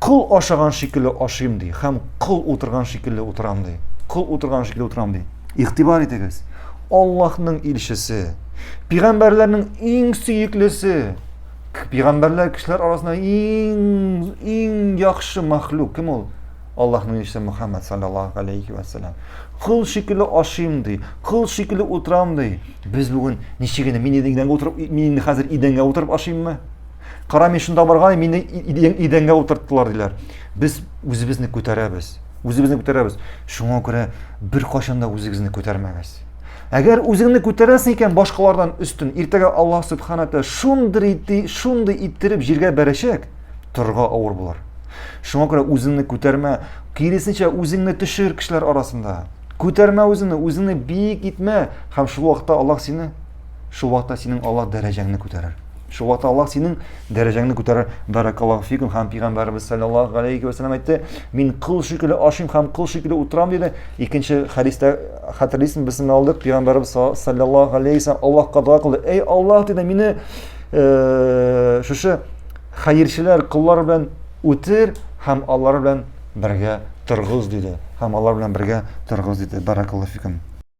Кол ашаган шикелле ашыйм, ди, һәм кол утырган шикелле утырам, ди. Кол утырган шикелле утырам, ди. Игътибар итегез. Аллаһның илчесе, пигамбәрләрнең иң сөеклесе, пигамбәрләр кешеләр арасында иң иң яхшы мәхлук кем ул? Аллаһның илчесе Мухаммад саллаллаһу алейхи ва саллям. Кыл шикелле ашыйм ди, кыл шикелле утырам ди. Без бүген ничек инде мин идәнгә утырып, мин инде хәзер идәнгә утырып ашыйммы? Кара мин шунда барган, мине идәнгә утырттылар диләр. Без үзебезне күтәрәбез. Үзебезне күтәрәбез. Шуңа күрә бер кашанда да үзегезне күтәрмәгез. Әгәр үзеңне күтәрәсең икән башкалардан өстен, иртәгә Аллаһ Субханаһу ва шундый итти, шундый иттереп җиргә бәрәчәк, торга авыр булыр. Шуңа күрә үзеңне күтәрмә, киресенчә үзеңне төшер кешеләр арасында. Күтәрмә үзеңне, үзеңне биек итмә, һәм шул вакытта Аллаһ сине Шул вакытта синең Аллаһ дәрәҗәңне күтәрер. Шул вакытта Аллаһ синең дәрәҗәңне күтәрер. Баракаллаһу фикум һәм пәйгамбәребез саллаллаһу галәйһи ва сәлләм әйтте, мин кол шикелле ашыйм һәм кол шикелле утырам диде. Икенче хәдистә хәтерлисең, без аны алдык, пәйгамбәребез саллаллаһу галәйһи ва сәлләм Аллаһка дога кылды. Эй Аллаһ диде, мине э, шушы хәерчеләр коллар белән үтер һәм алар белән бергә торгыз диде. Һәм алар белән бергә торгыз диде. Баракаллаһу фикум.